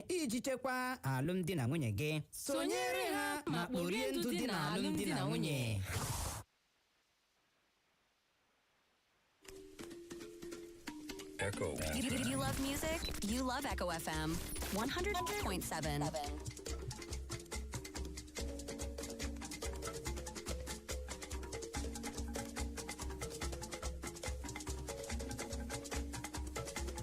iji chekwaa alụmdi na nwunye gị sonyere ha ma kporie ndụ dị na alụmdi na nwunye Echo. You, you- you love music? You love Echo FM 100.7.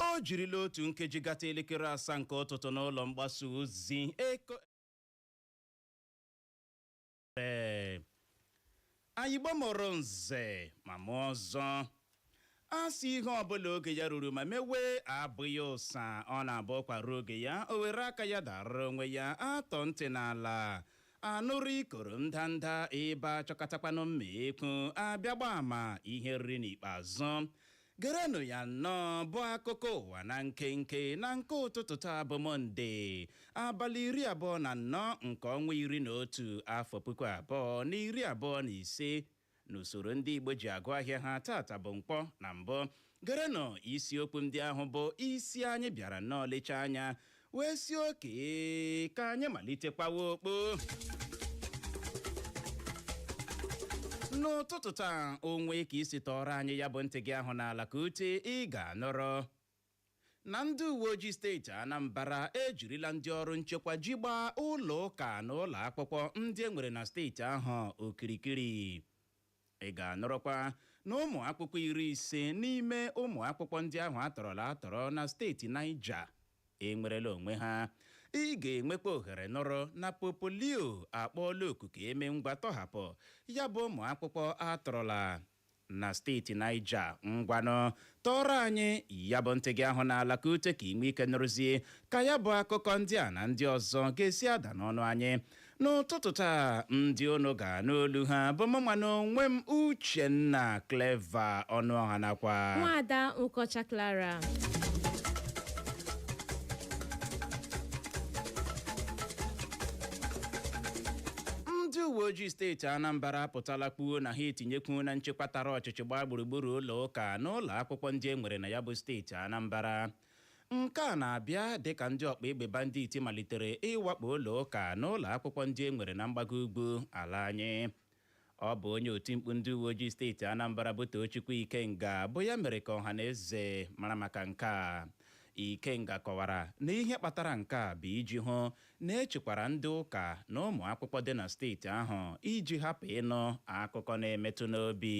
o jirila otu nkeji gata elekere asaa nke ụtụtụ n'ụlọ mgbasa ozi echo ee anyị igbo mụrụ nze ma mụọ ọzọ a sị ihe ọbụla oge ya ruru ma mewe abụghị ụsa ọ na-abụ ụkwa ruo oge ya o were aka ya dara onwe ya a tọọ ntị n'ala a nụrụ ikoro ndanda ebe a chọkatakwanụ mma ekwu a bịa gbaa ama ihe e riri n'ikpeazụ Gerenụ ya nnọọ bụ akụkọ ụwa na nkenke na nke ụtụtụ taa bụ Mọnde, abalị iri abụọ na anọ nke ọnwa iri na otu afọ puku abụọ na iri abụọ na ise n'usoro ndị Igbo ji agụ ahịa ha tata bụ Nkwọ na mbụ. Gerenụ isiokwu ndị ahụ bụ isi anyị bịara nnọọ lechaa anya wee sị okay ka anyị malite kpawa okpo n'ụtụtụ taa o nwee ka i si tọọrọ anyị ya bụ ntị gị ahụ n'ala ka ute ị ga-anụrụ na ndị uwe ojii steeti anambra ejirila ndị ọrụ nchekwa ji gbaa ụlọ ụka na ụlọ akwụkwọ ndị e nwere na steeti ahụ okirikiri Ị ga-anụrụkwa na ụmụ akwụkwọ iri ise n'ime ụmụ akwụkwọ ndị ahụ a tọrọla atọrọ na steeti Niger enwerela onwe ha. Ị ga-enwekwa ohere nụrụ na Popu Leo akpọọla oku ka e mee ngwa tọhapụ ya bụ ụmụ akwụkwọ a tọrọla na steeti Niger. Ngwanụ tọọrọ anyị ya bụ ntị gị ahụ n'ala ka ute ka i nwee ike nụrụzie ka ya bụ akụkọ ndị a na ndị ọzọ ga-esi ada n'ọnụ anyị n'ụtụtụ taa ndị unu ga-anụ olu ha bụ mụnwa na onwe m uchenna clever ọnụọha nakwa nwada nkọcha clara ndị uwe ojii steeti anambra apụtala kwuo na ha etinyekwuola nchekwa tara ọchịchị ọchịchị gbaa gburugburu ụlọ ụka na ụlọ akwụkwọ ndị e nwere na ya bụ steeti Anambra nke a na-abịa dịka ndị ọkpa egbe banditi malitere ịwakpo ụlọ ụka na ụlọ akwụkwọ ndị e nwere na mgbago ugwu ala anyị ọ bụ onye otimkpu ndị uwe ojii steeti Anambra bụ Tochukwu Ikenga bụ ya mere ka ọha na eze mara maka nke a Ikenga kọwara na ihe kpatara nke a bụ iji hụ na echekwara ndị ụka na ụmụakwụkwọ dị na steeti ahụ iji hapụ ịnụ akụkọ na-emetụ n'obi.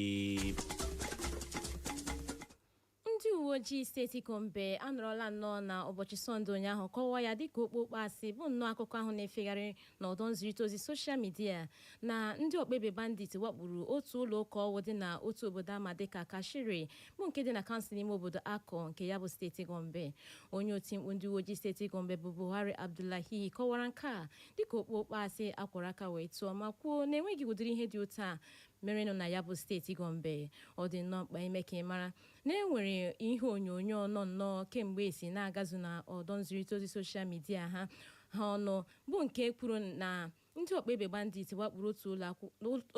Ndị uweojii steeti Gombe anọrọla nnọọ na ụbọchị Sọnde ụnyaahụ kọwaa ya dịka okpokpo asị bụ nnọọ akụkọ ahụ na-efegharị n'ọdọ nzirịta ozi soshal midia na ndị ọkpaegbe bandit wakporo otu ụlọ ụka ọwụ dị na otu obodo ama dịka Kashere bụ nke dị na kansụl ime obodo Akko nke ya bụ steeti Gombe. Onye otimkpu ndị uweojii steeti Gombe bụ Buhari Abdullahi kọwara nke a dịka okpokpo asị a kwọrọ aka wee tụọ ma kwuo na enweghị ụdịrị ihe dị otu a merenụ na ya bụ steeti Gombe. Ọ dị nnọọ mkpa ime ka ị mara na e nwere ihe onyonyo nọ nnọọ kemgbe esi na-agazu na ọdọ nzirịta ozi soshal midia ha ha ọnụ bụ nke kwuru na Ndị ọkpaegbe bandit wakporo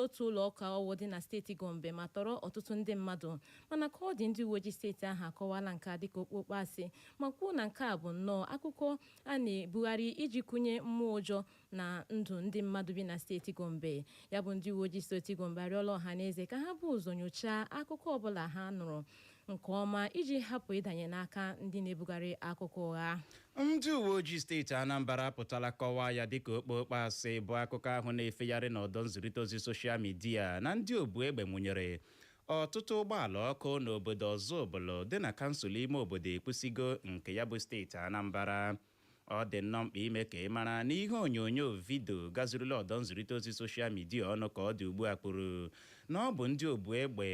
otu ụlọụka ọwụ dị na steeti Gombe ma tọrọ ọtụtụ ndị mmadụ. Mana ka ọ dị, ndị uweojii steeti ahụ akọwaala nke a dịka okpokpo asị ma kwuo na nke a bụ nnọọ akụkọ a na-ebugharị iji kụnye mmụọ ụjọ na ndụ ndị mmadụ bi na steeti Gombe. Ya bụ ndị uweojii steeti Gombe arịọla ọhaneze ka ha bu ụzọ nyochaa akụkọ ọbụla ha nụrụ nke ọma iji hapụ ịdanye n'aka ndị na-ebugharị akụkọ ụgha ndị uwe ojii steeti anambra apụtala kọwaa ya dịka okpokpo asị bụ akụkọ ahụ na-efegharị n'ọdọ nzirịta ozi soshal midia na ndị obu egbe nwụnyere ọtụtụ ụgbọala ọkụ n'obodo ọzụbụlụ dị na kansụl ime obodo ekwusigo nke ya bụ steeti anambra ọ dị nnọọ mkpa ime ka ị mara na ihe onyonyo vidio gazurula ọdọ nzirịta ozi soshal midia ọnụ ka ọ dị ugbu a kwuru na ọ bụ ndị obu egbe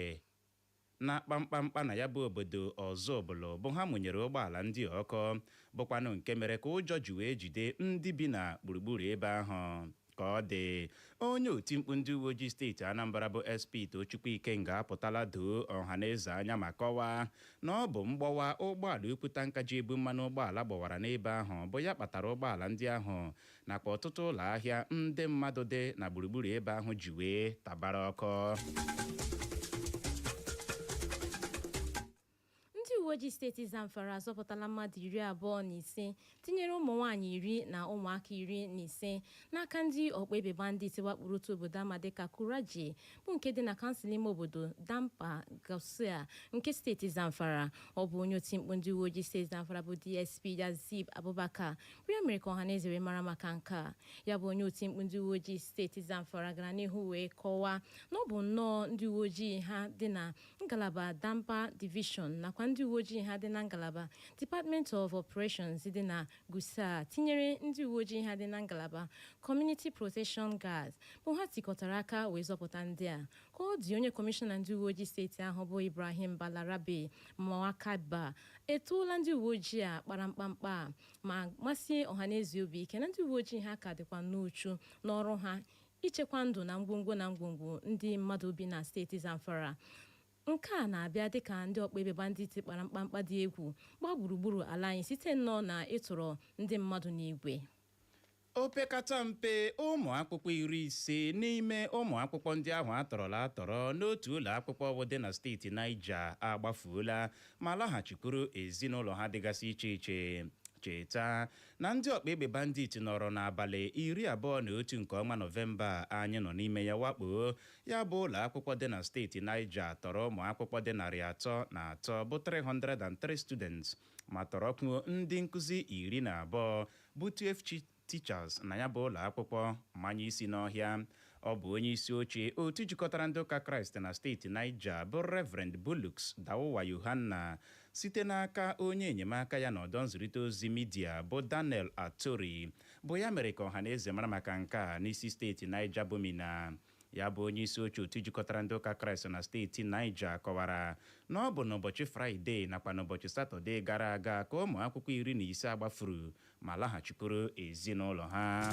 na-akpa mkpamkpa na ya bụ obodo Ọzụbụlụ bụ ha mụnyere ụgbọala ndị a ọkụ bụkwanụ nke mere ka ụjọ ji wee jide ndị bi na gburugburu ebe ahụ. Ka ọ dị, onye otimkpu ndị uweojii steeti Anambra bụ SP Tochukwu Ikenga apụtala doo ọhaneze anya ma kọwaa na ọ bụ mgbọwa ụgbọala ukwu tanka ji ebu mmanụ ụgbọala gbọwara n'ebe ahụ bụ ya kpatara ụgbọala ndị ahụ nakwa ọtụtụ ụlọ ahịa ndị mmadụ dị na gburugburu ebe ahụ ji wee tabara ọkụ ndị uwe ojii steeti zamfara azọpụtala mmadụ iri abụọ na ise tinyere ụmụ nwaanyị iri na ụmụaka iri na ise n'aka ndị ọkpa egbe bandit wakporo otu obodo ama dịka kuraje bụ nke dị na kansụl ime obodo damba gusau nke steeti zamfara ọ bụ onye oti mkpu ndị uwe ojii steeti zamfara bụ dsp yazid abubakar bụ ya mere ka ọhaneze wee mara maka nke a ya bụ onye oti mkpu ndị uwe ojii steeti Zamfara gara n'ihu wee kọwaa na ọ bụ nnọọ ndị uwe ojii ha dị na ngalaba Damba Division nakwa ndị uwe ojii ha dị na ngalaba Department of Operations dị na Gusau tinyere ndị uwe ojii ha dị na ngalaba Community Protection Guards bụ ha tikọtara aka wee zọpụta ndị a ka ọ dị onye kọmishọna ndị uwe ojii steeti ahụ bụ Ibrahim Balarabe Maikaba etoola ndị uwe ojii a kpara mkpamkpa ma masie ọhaneze obi ike na ndị uwe ojii ha ka dịkwa n'uchu n'ọrụ ha ichekwa ndụ na ngwongwo na ngwongwo ndị mmadụ bi na steeti Zamfara nke a na-abịa dịka ndị ọkpa egbe bandit kpara mkpamkpa dị egwu gbaa gburugburu ala anyị site nnọọ na ịtọrọ ndị mmadụ n'igwe Opekata mpe ụmụ akwụkwọ iri ise n'ime ụmụ akwụkwọ ndị ahụ a tọrọla atọrọ n'otu ụlọ akwụkwọ ahụ dị na steeti Niger agbafuola ma laghachikwuru ezinụlọ ha dịgasị iche iche. Cheta na ndị ọkpa egbe bandit nọrọ n'abalị iri abụọ na otu nke ọnwa Nọvemba anyị nọ n'ime ya wakpoo ya bụ ụlọ akwụkwọ dị na steeti Niger tọrọ ụmụ akwụkwọ dị narị atọ na atọ bụ 303 students ma tọrọkwuo ndị nkụzi iri na abụọ bụ 12 teachers na ya bụ ụlọ akwụkwọ manye isi n'ọhịa. Ọ bụ onye isi oche otu jikọtara ndị ụka Kraịst na steeti Niger bụ Reverend Bulus Dauwa Yohanna site n'aka onye enyemaka ya n'ọdọ nzirịta ozi midia bụ Daniel Atori bụ ya mere ka ọhaneze mara maka nke a n'isi steeti Niger bụ Minna. Ya bụ onye isi oche otu jikọtara ndị ụka Kraịst na steeti Niger kọwara na ọ bụ n'ụbọchị Fraịde nakwa n'ụbọchị Satọde gara aga ka ụmụ akwụkwọ iri na ise a gbafuru ma laghachikwuru ezinụlọ ha.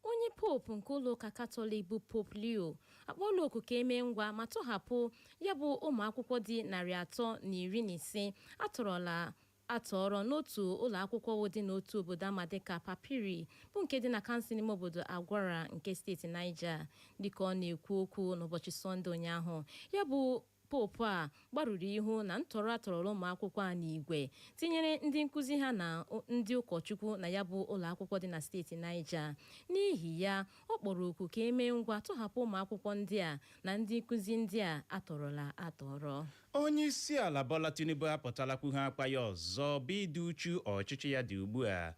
Onye Pope nke ụlọụka Katọlik bụ Pope Leo akpọọla oku ka e mee ngwa ma tọhapụ ya bụ ụmụ akwụkwọ dị narị atọ na iri na ise a tọrọla atọrọ n'otu ụlọakwụkwọ dị n'otu obodo a ma dịka Papiri bụ nke dị na kansụl ime obodo Agwara nke steeti Niger. Dịka ọ na-ekwu okwu n'ụbọchị Sọnde ụnyaahụ, ya bụ Pope a gbarụrụ ihu na ntọrọ a tọrọla ụmụakwụkwọ a n'igwe, tinyere ndị nkuzi ha na ndị ụkọchukwu na ya bụ ụlọakwụkwọ dị na steeti Niger. N'ihi ya, ọ kpọrọ oku ka e mee ngwa tọhapụ ụmụakwụkwọ ndị a na ndị nkuzi ndị a a tọrọla atọrọ. Onyeisiala Bola Tinubu apụtala kwuheekwa ya ọzọ bụ ịdị uchu ọchịchị ya dị ugbua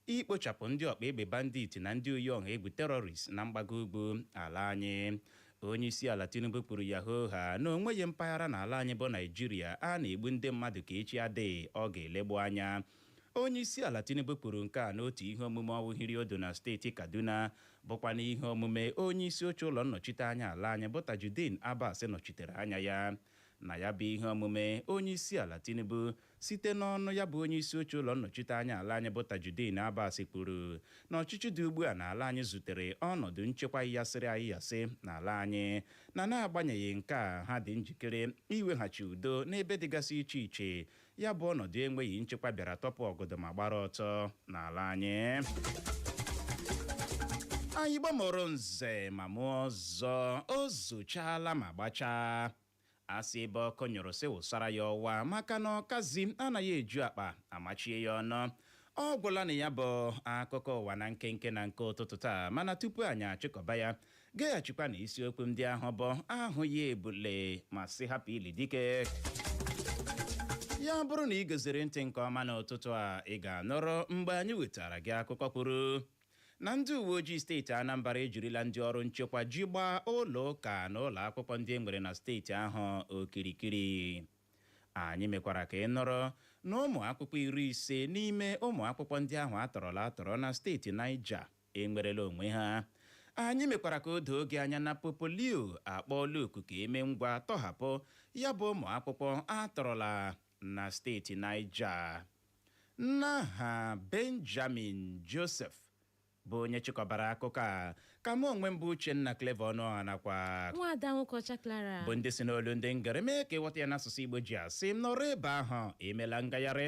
ikpochapụ ndị ọkpa egbe bandit na ndị oyi ọha egwu terrorists na mgbago ugwu ala anyị. Onyeisiala Tinubu kwuru ya hoo haa na o nweghị mpaghara n'ala anyị bụ Naịjirịa a na-egbu ndị mmadụ ka echi adịghị ọ ga-elegbu anya Onyeisiala Tinubu kwuru nke a n'otu ihe omume ahụ hiri ụdụ na steeti Kaduna bụkwa n'ihe omume onyeisi oche ụlọ nnọchite anya ala anyị bụ Tajudeen Abbas nọchitere anya ya. Na ya bụ ihe omume, Onyeisiala Tinubu site n'ọnụ ya bụ onyeisi oche ụlọ nnọchite anya ala anyị bụ Tajudeen Abbas kwuru na ọchịchị dị ugbua n'ala anyị zutere ọnọdụ nchekwa yịghasịrị ayịghasị n'ala anyị na n'agbanyeghị nke a ha dị njikere iweghachi udo n'ebe dịgasị iche iche Ya bụ ọnọdụ enweghị nchekwa bịara tọpụ ọgọdọ ma gbara ọtọ n'ala anyị anyị Igbo mụrụ nze ma mụọ ọzọ o zochaala ma gbachaa a sị ebe ọkụ nyụrụ sị wụsara ya ọwa maka na ọkazi anaghị eju akpa amachie ya ọnụ ọ gwụla na ya bụ akụkọ ụwa na nkenke na nke ụtụtụ taa mana tupu anyị achịkọba ya Geghachikwa na isiokwu ndị ahụ bụ ahụ ya ebule ma sị hapụ ili dike. Ya bụrụ na ị geziri ntị nke ọma n'ụtụtụ a ị ga-anụrụ mgbe anyị wetara gị akụkọ kwuru na ndị uwe ojii steeti Anambra ejirila ndị ọrụ nchekwa ji gbaa ụlọ ụka na ụlọ akwụkwọ ndị e nwere na steeti ahụ okirikiri. Anyị mekwara ka ị nụrụ na ụmụ akwụkwọ iri ise n'ime ụmụ akwụkwọ ndị ahụ a tọrọla atọrọ na steeti Niger enwerela onwe ha. Anyị mekwara ka o doo gị anya na Pope Leo akpọọla oku ka e mee ngwa tọhapụ ya bụ ụmụakwụkwọ a tọrọla na steeti Niger. N'aha Benjamin Joseph bụ onye chịkọbara akụkọ a, ka mụ onwe m bụ Uchenna Clever Ọnụọha nakwa Nwaada Nwokeọcha Clara. bụ ndị si n'olu ndị ngere mee ka ị ghọta ya n'asụsụ Igbo ji asị nọrọ ebe ahụ emela ngagharị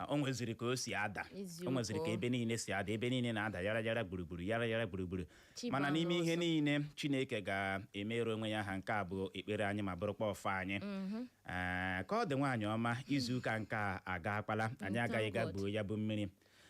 Ah, o nweziri ka o si ada Eziokwu. o nweziri ka ebe niile si ada ebe niile na-ada yara yara gburugburu yara yara gburugburu mana n'ime ihe niile chineke ga-emere onwe ya aha nke a bụ ekpere anyị ma bụrụkwa ọfọ anyị Ah, ka ọ dị nwaanyị ọma izu ụka nke a agakwala anyị agaghị ga gwuo ya bụ mmiri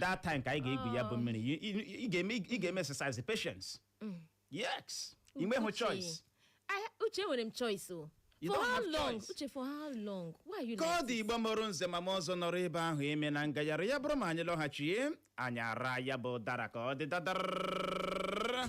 that time ka anyị ga-egwu ya bụ oh. mmiri ị ga-eme exercise patience mm. yes i nweghị choice Uche enwere m choice o for how long? Uche, for how long? Why are you Ka ọ dị Igbo mụrụ nze ma mụọ ọzọ nọrọ ebe ahụ emena ngagharị ya bụrụ ma anyị lọghachie anyị araa ya bụ ụdara ka ọ dị dadara